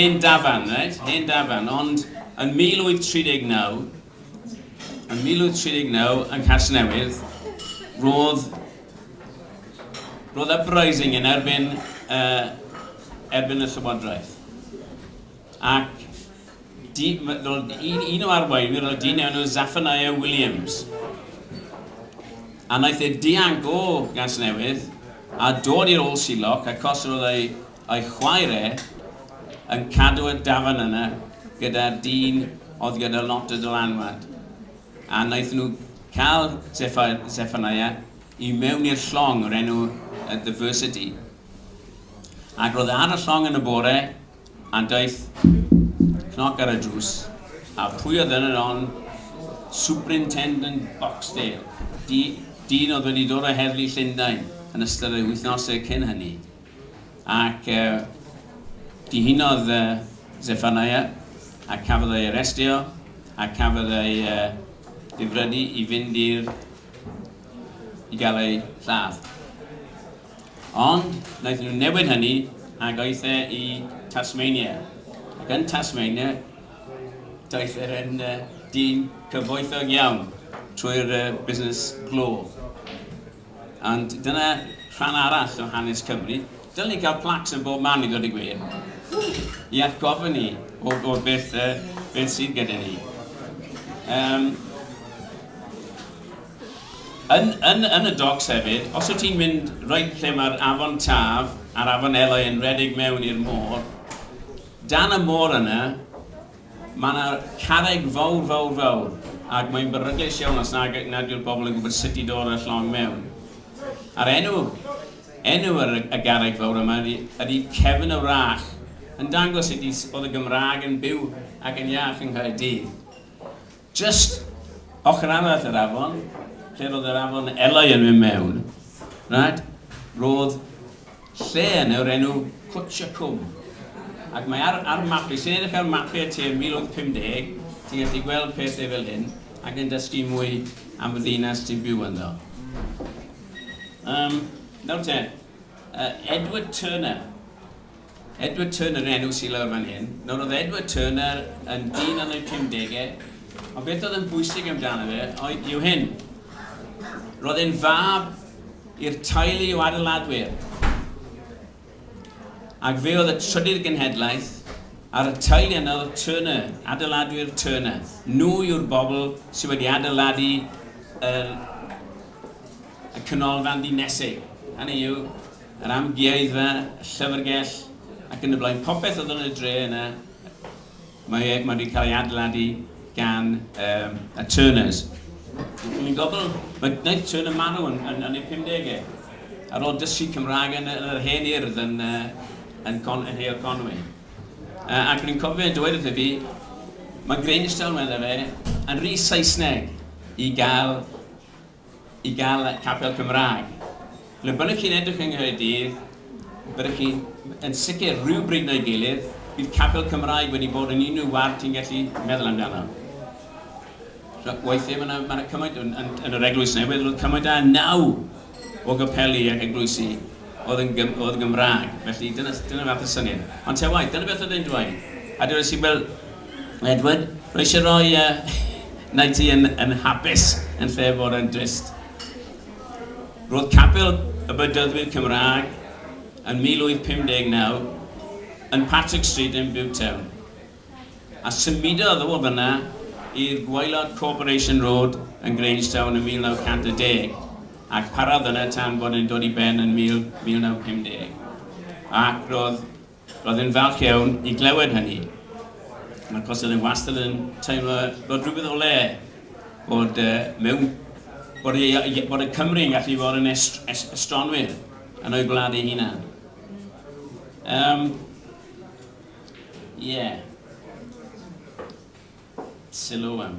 Hen dafarn, reit, hen dafarn, ond yn 1839, yn 1839 yn Casnewydd, roedd, roedd uprising yn erbyn, uh, erbyn y llywodraeth. Ac di, roedd un, un o arweinwyr oedd dyn enw Zephaniah Williams. A wnaeth e dianc o Gasnewydd a dod i'r ôl siloc achos roedd ei A'i chwaer e, yn cadw y dafarn yna gyda dyn oedd gyda lot o dylanwad, a wnaethon nhw cael Sephaniah i mewn i'r llong o'r enw y The Versity. Ac roedd e ar y llong yn y bore, a daeth cnoc ar y drws, a pwy oedd yn yr on? Superintendent Boxdale, dyn oedd wedi dod o Heddlu Llundain yn ystod ei wythnosau cyn hynny. Ac dihunodd Zeffanaia, a cafodd ei arestio, a cafodd ei ddifrodi i fynd i'r i gael ei lladd. Ond wnaethon nhw newid hynny ac aeth e i Tasmania. Ac yn Tasmania, daeth e yn dyn cyfoethog iawn trwy'r busnes glo. Ond dyna rhan arall o hanes Cymru. Dylen ni gael plaques yn bob man i ddweud y gwir, i atgoffa ni o, o beth, uh, beth sydd gyda ni. Um, yn, yn, yn y docs hefyd, os wyt ti'n mynd roed lle mae'r afon Taf a'r afon Eloi yn redeg mewn i'r môr, dan y môr yna, Mae yna carreg fawr, fawr, fawr, ac mae'n beryglus iawn os nag, nad yw'r bobl yn gwybod sut i dod â'r llong mewn. A'r enw, enw ar y, y garreg fawr yma ydy, ydy Cefn y Wrach, yn dangos sut i, oedd y Gymraeg yn byw ac yn iach yng Nghaerdydd. Jyst ochr arall yr afon, lle roedd yr afon Elai yn mynd mewn, right, roedd lle yn yw'r enw Cwtsh y Cwm. Ac mae ar, ar map, i sy'n edrych ar mapiau ti yn 1850, ti'n gallu gweld pethau fel hyn, ac yn dysgu mwy am y ddinas ti'n byw ynddo. Um, nawr te, uh, Edward Turner, Edward Turner yn enw sy lawr fan hyn. Nawr oedd Edward Turner yn dyn yn y pumdegau, ond beth oedd yn bwysig amdano fe oedd yw hyn. Roedd e'n fab i'r teulu o adeiladwyr. Ac fe oedd y trydydd genhedlaeth ar y teulu yna oedd Turner, adeiladwyr Turner. Nhw yw'r bobl sydd wedi adeiladu y, y canolfan ddinesig. Hynny yw, yr amgueddfa, y llyfrgell ac yn y blaen, popeth oedd yn y dre yna, mae e, mae wedi cael ei adeiladu gan um, y Turners. Dwi'n gofyn, mae Night Turner marw yn, yn, yn ei 50au, ar ôl dysgu Cymraeg yn, yn yr hen urdd yn, uh, yn, Con, yn Heol Conwy. Uh, ac rwy'n cofio dweud wrth i fi, mae Grange Town, meddai fe, yn rhi Saesneg i gael i gael capel Cymraeg. Le bynnag chi'n edrych yng Nghaerdydd, byddwch chi yn sicr rhywbryd neu'i gilydd, bydd capel Cymraeg wedi bod yn unrhyw ward ti'n gallu meddwl amdano. So, weithiau mae yna ma cymaint, yn, yn, yn yr eglwys newydd, roedd cymaint a naw o gapeli ac eglwysi oedd yn, gym, oedd yn Gymraeg. Felly dyna, dyna fath y syniad. Ond te waith, dyna beth oedd e'n dweud. A dweud si, wel, Edward, Rwy eisiau rhoi yy wneud ti yn yn hapus yn lle fod yn drist. Roedd Capel y Bedyddwyr Cymraeg yn 1859 yn Patrick Street yn Butetown, a symudodd o fan'na i'r gwaelod Corporation Road yn Grangetown yn 1910, ac parodd yna tan bod e'n dod i ben yn 1950. Ac roedd Roedd e'n falch iawn i glywed hynny. Mae'r Coselydd wastad yn teimlo bod rhywbeth o le, bod, uh, mewn, bod, y, bod y Cymru yn gallu bod yn est, est, estronwyr yn o'i gwlad ei hunan. Um, yeah. Sylw am.